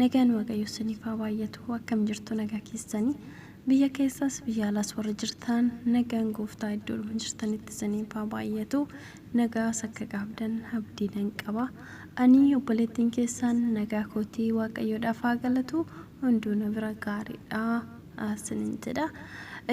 Nagaan waaqayyoo isiniif haa baay'atu akkam jirtu nagaa keessani biyya keessaas biyya alaas warri jirtaan nagaan gooftaa iddoodhuma jirtanitti isiniif haa baay'atu nagaas akka qaabdan abdii nan qaba ani obboleettiin keessaan nagaa kootii waaqayyoodhaaf haa galatu hunduu na bira gaariidha isinin jedha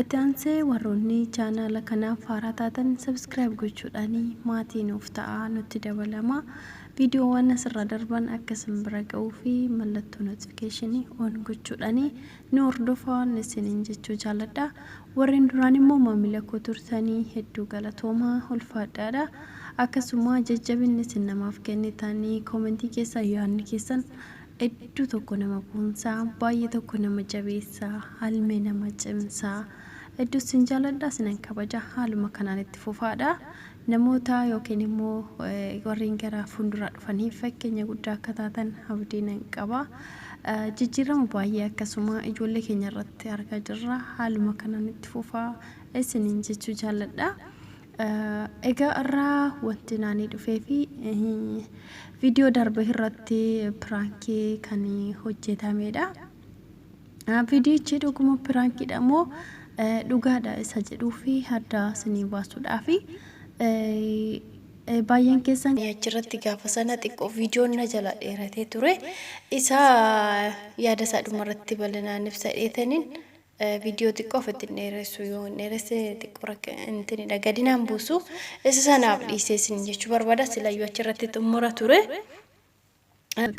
itti aansee warroonni chaanaala kanaaf haaraa taatan sabiskiraayib gochuudhaanii maatii nuuf ta'a nutti dabalama Viidiyoowwan asirra darban akka isin bira ga'uu fi mallattoo notification on gochuudhaan nu hordofaa isiniin jechuu jaalladha. Warreen duraan immoo maamila koo turtanii hedduu galatoomaa ulfaadhaadha. Akkasuma jajjabinni isin namaaf kennitanii koomentii keessaa yaadni keessan hedduu tokko nama boonsaa baay'ee tokko nama jabeessaa halmee nama cimsaa hedduu isin jaalladha isinan kabaja haaluma kanaan itti fufaadha. Namoota ykn immoo warreen gara fuulduraa dhufaniif fakkeenya guddaa akka taatan abdii nan qaba. Jijjiirama baay'ee akkasuma ijoollee keenya irratti argaa jirra. Haaluma kanaan itti fufaa isiniin jechuu jaalladha. Egaa har'aa wanti naanii dhufee fi viidiyoo darbe irratti piraankii kan hojjetamedha. Vidiyichi dhuguma piraankiidha moo dhugaadha isa jedhuu fi adda isinii baasuudhaafi baay'een keessan achirratti gaafa sana xiqqoo viidiyoon na jala dheeratee ture isa yaada isaa dhumarratti bal'inaan ibsa dheetaniin viidiyoo xiqqoo ofitti hin dheeressu yoo hin dheeresse xiqqoo rakka intinidha gadinaan buusu isa sanaaf dhiisee isin jechuu barbaada silayyoo achirratti xumura ture.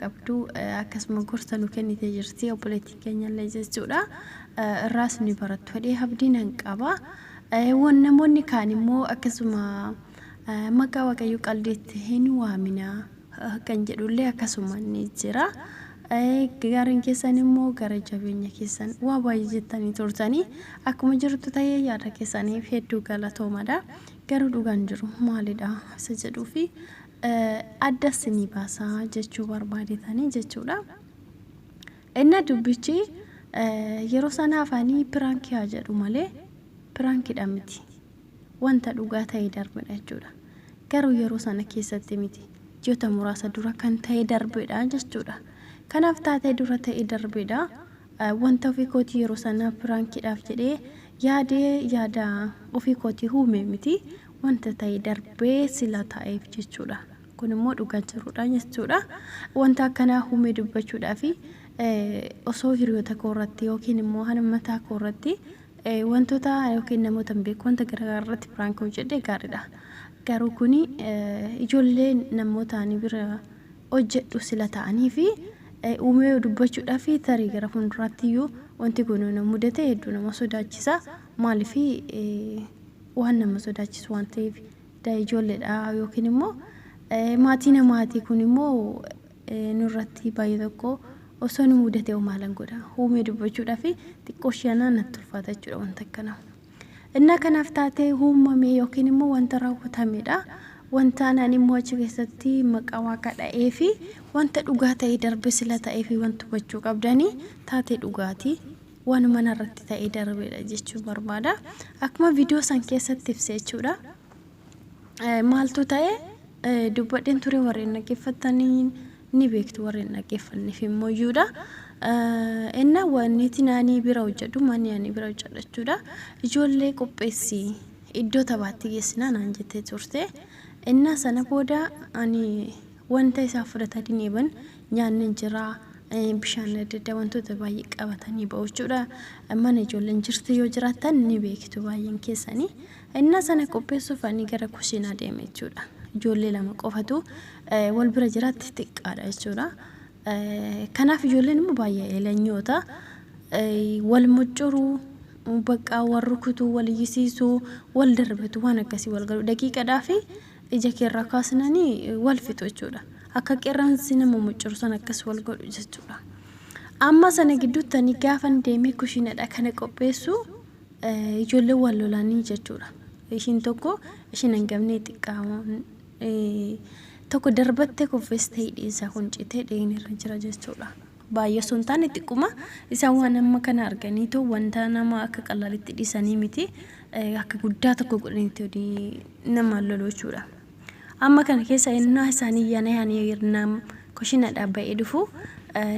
qabdu akkasuma gorsa nu kennite jirti obboleettiin keenyallee jechuudha irraas ni barattu fedhee abdii nan qaba wan namoonni kaan immoo akkasuma maqaa waaqayyoo qaldiitti hin waaminaa kan jedhullee akkasuma ni jira gaariin keessan immoo gara jabeenya keessan waa baay'ee jettanii turtanii akkuma jirtu ta'ee yaada keessaniif hedduu galatoomadha garuu dhugaan jiru maalidha isa jedhuu fi adda isinii baasa jechuu barbaadetanii jechuudha. Inna dubbichi yeroo sana afaanii piraankii haa jedhu malee piraankidha miti. Wanta dhugaa ta'e darbedha jechuudha. Garuu yeroo sana keessatti miti. Ji'oota muraasa dura kan ta'e darbedha jechuudha. Kanaaf taatee dura ta'e darbedha. Wanta ofii kootii yeroo sana piraankidhaaf jedhee yaade yaada ofii kootii huume miti. Wanta ta'e darbee sila taa'eef jechuudha. Kun immoo dhugaa jirudha jechuudha. Wanta akkanaa huumee dubbachuudhaaf osoo hiriyoota koo irratti yookiin immoo hana mataa koo irratti wantoota yookiin namoota hin beeku wanta garaagaraa irratti piraank hojjedhe gaariidha. Garuu kuni ijoollee namoota ani bira hojjedhu sila ta'anii fi uumee dubbachudhaaf tarii gara fuulduraatti iyyuu wanti kun na mudate hedduu nama sodaachisa maaliif waan nama sodaachisu waan ta'eef ijoolleedha yookiin immoo maatii namaatii kun immoo nurratti baay'ee tokko osoo nu mudate maalan godha uumee dubbachuudhaaf xiqqoo shi'anaa natti ulfaata jechuudha wanta akkana. Innaa kanaaf taatee uumame yookiin immoo wanta raawwatamedha. Wanta anaan immoo achi keessatti maqaa waaqa dha'ee fi wanta dhugaa ta'e darbe sila ta'ee fi wanti hubachuu qabdanii taatee dhugaati. Waanuma narratti ta'ee darbedha jechuun barbaada. Akkuma viidiyoo san keessatti ibse jechuudha. maaltu ta'e dubbadheen ture warreen dhaggeeffattanii ni beektu warreen dhaggeeffanneef immoo iyyuudha. Enna wanti ani bira hojjedhu manni ani bira hojjedhu jechuudha. Ijoollee qopheessi iddoo taphaatti geessinaa naan jettee turte. Enna sana booda ani wanta isaa fudhatanii deeman nyaanni hin jira. Bishaan adda addaa wantoota baay'ee qabatanii ba'u jechuudha. Mana ijoolleen jirtu yoo jiraattan ni beektu baay'een keessanii. Ennaa sana qopheessuuf ani gara kushiinaa deeme jechuudha. Ijoollee lama qofatu wal bira jiraatti xiqqaadha jechuudha. Kanaaf ijoolleen immoo baay'ee eelanyoota. Wal muccuruu, baqqaa wal rukutuu, wal iyyisiisuu, wal darbatu waan akkasii wal galu. Daqiiqadhaa fi ija keerraa kaasnanii wal fixu jechuudha. Akka qeerransi nama muccuru san akkas wal godhu jechuudha. Amma sana gidduutti ani gaafan deemee kushiinadha kana qopheessuu Ijoolleen wal lolanii jechuudha. Ishiin tokko ishiin hangafni xiqqaamoon tokko darbattee kuffistee hidhiin isaa kun citee dhiigni irra jira jechuudha. Baay'ee osoo hin taane xiqquma isaan waan amma kana arganiitu wanta nama akka qalaalitti dhiisanii miti akka guddaa tokko godhaniitu nama lolu jechuudha. Amma kana keessa ennaa isaanii yana yaanii irnaa kushinadhaa ba'ee dhufu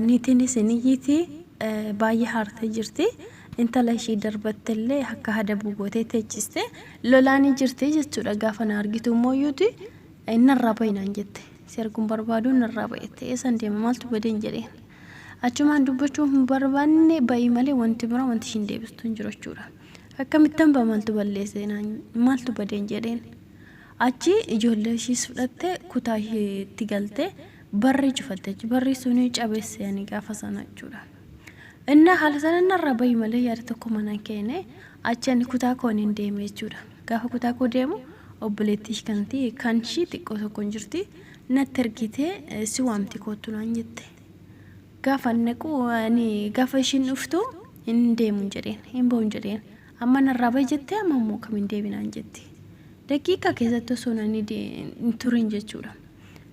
niitiin isin iyyiitii baay'ee haartee jirti. Intala ishii darbattellee akka hadabu gootee teechiste. Lolaanii jirti jechuudha. Gaafa na argitu immoo iyyuuti narraa bahi naan jette. Si arguun barbaadu narraa bahi jette. Eessan deema maaltu badeen jedheen. Achumaan dubbachuu hin barbaanne bahi malee wanti biraa wanti ishiin deebistu hin jiru jechuudha. Akkamittan baha maaltu balleessee naan maaltu badeen jedheen. Achi ijoollee ishiis fudhattee kutaa ishiitti galtee barrii cufatte jechuudha. Barrii suni cabesse ani gaafa sana jechuudha. Inna haala sana narraa bahi malee yaada tokko manan keene achi ani kutaa koo nin deeme jechuudha. Gaafa kutaa koo deemu obboleettii ishii kan ta'e kan ishii xiqqoo tokko hin jirti natti ergitee eh, si waamti koottu naan jette. Gaafa ani naqu ani gaafa ishiin dhuftu hin deemu hin jedheen hin ba'u hin jedheen amma narraa bahi jettee amma immoo kam hin deebinaan jetti. Daqiiqaa keessatti osoo nani de- hin turin jechuudha.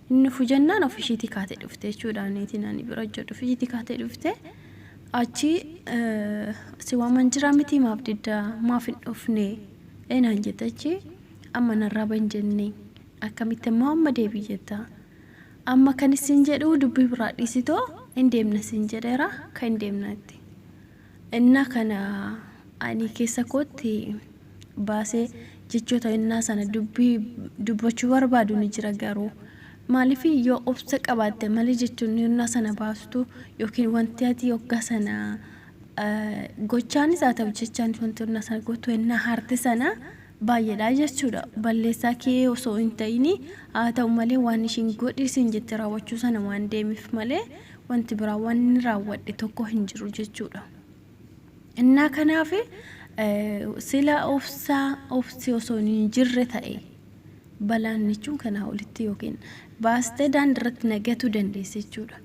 Hin dhufu jennaan of ishiitii kaatee dhufte jechuudha niitiin ani bira hojjedhu of ishiitii kaatee dhufte achi si waaman jira miti maaf didda maaf hin dhufne eenaan jette achi amma narraa ban jenne akkamitti immoo amma deebii jetta amma kan isin jedhu dubbii biraa dhiisitoo hin deemna sin jedheera kan hin deemna itti Ennaa kana ani keessa kootti baasee jechoota ennaa sana dubbii dubbachuu barbaadu ni jira garuu maaliif yoo obsa qabaatte malee jechoonni ennaa sana baastu yookiin wanti ati hoggaa sana gochaanis haa ta'u jechaanis wanti ennaa sana gootu ennaa haarte sana baay'eedha jechuudha. Balleessaa kee osoo hin ta'ini haa ta'u malee waan ishiin godhi siin jette raawwachuu sana waan deemif malee wanti biraa waan inni raawwadhe tokko hin jiru jechuudha. Innaa kanaaf sila obsaa obsi osoo hin jirre ta'e balaan jechuun kanaa olitti yookiin baastee daandirratti nagatu dandeesse jechuudha.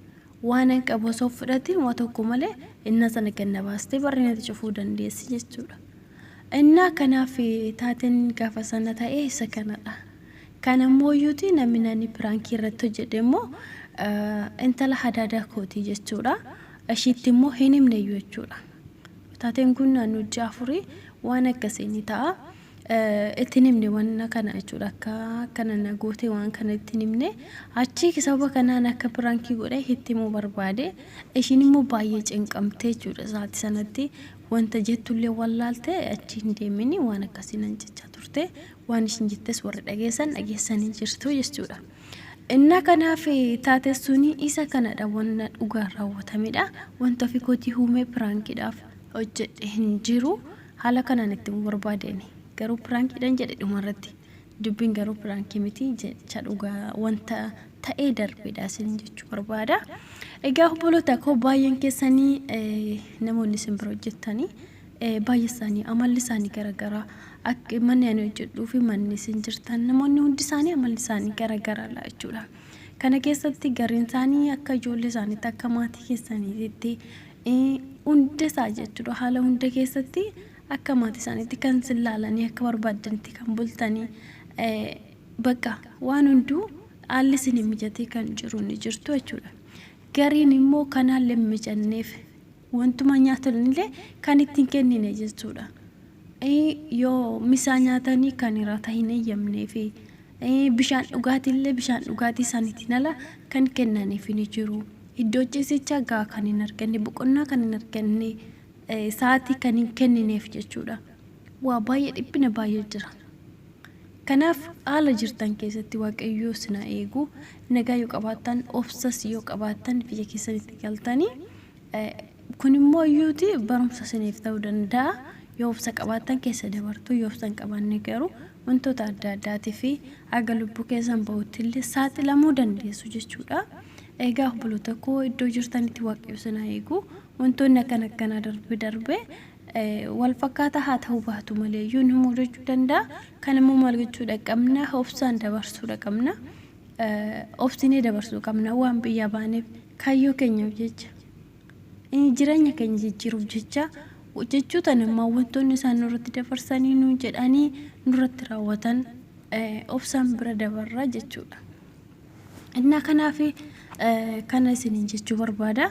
Waanan qabu osoo hin fudhatiin waa tokko malee innaa sana gad na baastee barri natti cufuu dandeessi jechuudha. Innaa kanaaf taateen gaafa sana ta'e isa kanadha. Kan ammoo iyyuuti namni naani piraankii irratti hojjedhe immoo intala hadaadaa kooti jechuudha. Ishiitti immoo hin himne iyyuu jechuudha. Taateen kun naannoo ji'a afurii waan akkasii ni ta'a. itti hin himne wanna kana jechuudha akka akkana na goote waan kana itti hin himne achii sababa kanaan akka piraankii godhe itti himuu barbaade ishiin immoo baay'ee cinqamtee jechuudha isaati sanatti wanta jettullee wallaalte achi hin deemini waan akkasii nan jechaa turte waan ishiin jettes warri dhageessan dhageessanii jirtu jechuudha. Inna kanaaf taate suni isa kanadha wanna dhugaa raawwatamedha wanta ofii kootii huumee piraankiidhaaf hojjedhe hin jiru. Haala kanaan itti himuu barbaade ani. Garuu piraankiidhan jedhe dhumarratti. Dubbiin garuu piraankii miti jecha dhugaa wanta ta'ee darbeedha isiniin jechuu barbaada. Egaa obboloota koo baay'een keessanii eh, namoonni isin bira hojjettanii eh, baay'ee isaanii amalli isaanii garaagaraa akka manni ani hojjedhuu fi manni isin jirtan namoonni hundi isaanii amalli isaanii garaagaraadha jechuudha. Kana keessatti gariin isaanii akka ijoollee isaaniitti akka maatii keessaniitti hunda isaa jechuudha haala hunda keessatti akka maatii isaaniitti kan sin laalanii akka barbaaddanitti kan bultanii bakka waan hunduu haalli sin hin mijatee kan jiru ni jirtu jechuudha. Gariin immoo kan haalli hin mijanneef wantuma nyaatanillee kan ittiin kennine jechuudha. Yoo misaa nyaatanii kan hirata hin eeyyamneefi Bishaan dhugaatiillee bishaan dhugaatii isaaniitiin ala kan kennaniif ni jiru. Iddoo ciisichaa gahaa kan hin arganne, boqonnaa kan hin arganne, sa'aatii kan hin kennineef jechuudha. Waa baay'ee dhiphina baay'ee jira. Kanaaf haala jirtan keessatti waaqayyoo sinaa eegu nagaa yoo qabaattan obsas yoo qabaattan biyya keessanitti galtanii Kun immoo iyyuuti barumsa isiniif ta'uu danda'a. Yoo obsa qabaattan keessa dabartu, yoo obsa hin qabaanne garuu wantoota adda addaatii fi haga lubbuu keessan ba'utti illee saaxilamuu dandeessu jechuudha. Egaa obboloota koo iddoo jirtanitti waaqayyo isin haa eegu. Wantoonni akkan akkanaa darbe darbe wal fakkaataa haa ta'uu baatu malee iyyuu nu mudachuu danda'a. Kan immoo maal gochuudha qabna? Obsaan dabarsuudha qabna. obsinee dabarsuu qabna waan biyyaa baaneef kaayyoo keenyaaf jecha eh, jireenya keenya jijjiiruuf jecha jechuu tan ammaa wantoonni isaan nurratti dabarsanii nu jedhanii nurratti raawwatan eh, obsaan bira dabarra jechuudha. Innaa kanaaf eh, kana isiniin jechuu barbaada.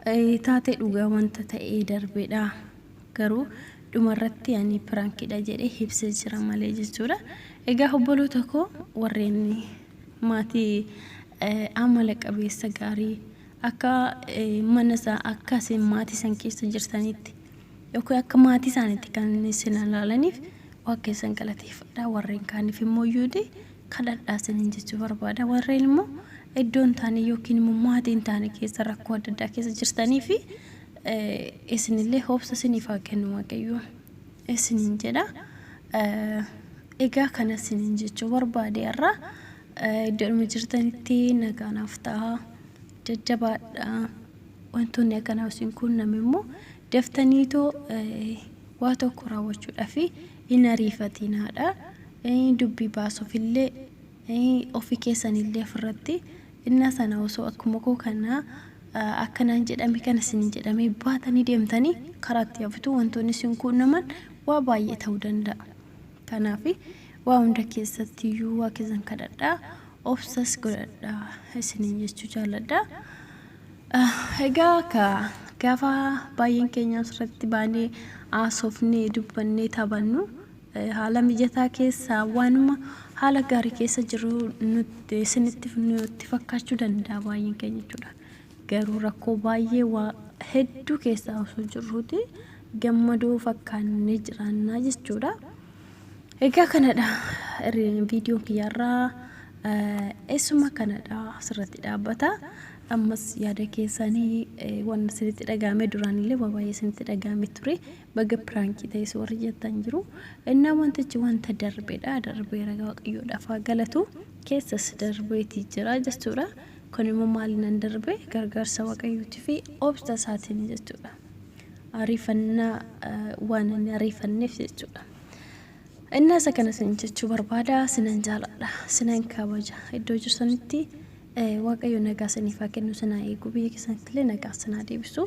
Eh, Taatee dhugaa wanta ta'ee darbeedha. garuu dhuma irratti ani prank dha jedhe hibse jira malee jechuudha egaa hobboloota koo warreen maatii amala qabeessa gaarii akka mana isaa akka isin maatii san keessa jirtanitti yookiin akka maatii isaanitti kan isin ilaalaniif waan keessan galateeffadha warreen kaaniif immoo yuudi kadhadhaa isiniin jechuu barbaada warreen immoo iddoo hin taane yookiin immoo maatii hin taane keessa rakkoo adda addaa keessa jirtanii fi Isinillee hoobsa siniif haa kennu Waaqayyo isiniin jedha. Egaa kana isiniin jechuu barbaade har'a iddoodhuma jirtanitti nagaa naaf ta'a. Jajjabaadha. Wantoonni akkanaa isin quunname immoo daftaniitoo waa tokko raawwachuudhaaf hin ariifatiinaadha. Dubbii baasuufillee ofii keessanillee ofirratti innaa sana osoo akkuma koo kana akka naan jedhame kana isiniin jedhamee baatanii deemtanii karaatti hafitu wantoonni isin quunnaman waa baay'ee ta'uu danda'a. Kanaaf waa hunda keessatti iyyuu waa keessan kadhadhaa obsas godhadhaa isiniin jechuu jaalladha. Egaa ka gaafa baay'een keenya asirratti baanee haasofnee dubbannee taphannu Haala mijataa keessa waanuma haala gaarii keessa jiru nutti isinitti nutti fakkaachuu danda'a baay'een keenya jechuudha. Garuu rakkoo baay'ee waa hedduu keessaa osoo jirruuti gammadoo fakkaannee jiraannaa jechuudha. Egaa kanadha viidiyoon kiyyaarraa eessuma kanadha asirratti dhaabbata. Ammas yaada keessanii waan isinitti dhaga'ame duraanillee waa baay'ee isinitti dhaga'ame ture. Baga piraankii ta'es warri jettan jiru. Innaa wantichi wanta darbeedha. Darbeera waaqayyoodhaaf haa galatu. Keessas darbeeti jira jechuudha. Kun immoo maalinan darbe gargaarsa waaqayyootii fi obsa isaatiin jechuudha. Ariifannaa waan inni ariifanneef jechuudha. Innaa isa kana isin jechuu barbaada sinan jaaladha sinan kabaja iddoo jirtanitti waaqayyo nagaa isiniif haa kennu sinaa eegu biyya keessanitti illee nagaa sinaa deebisu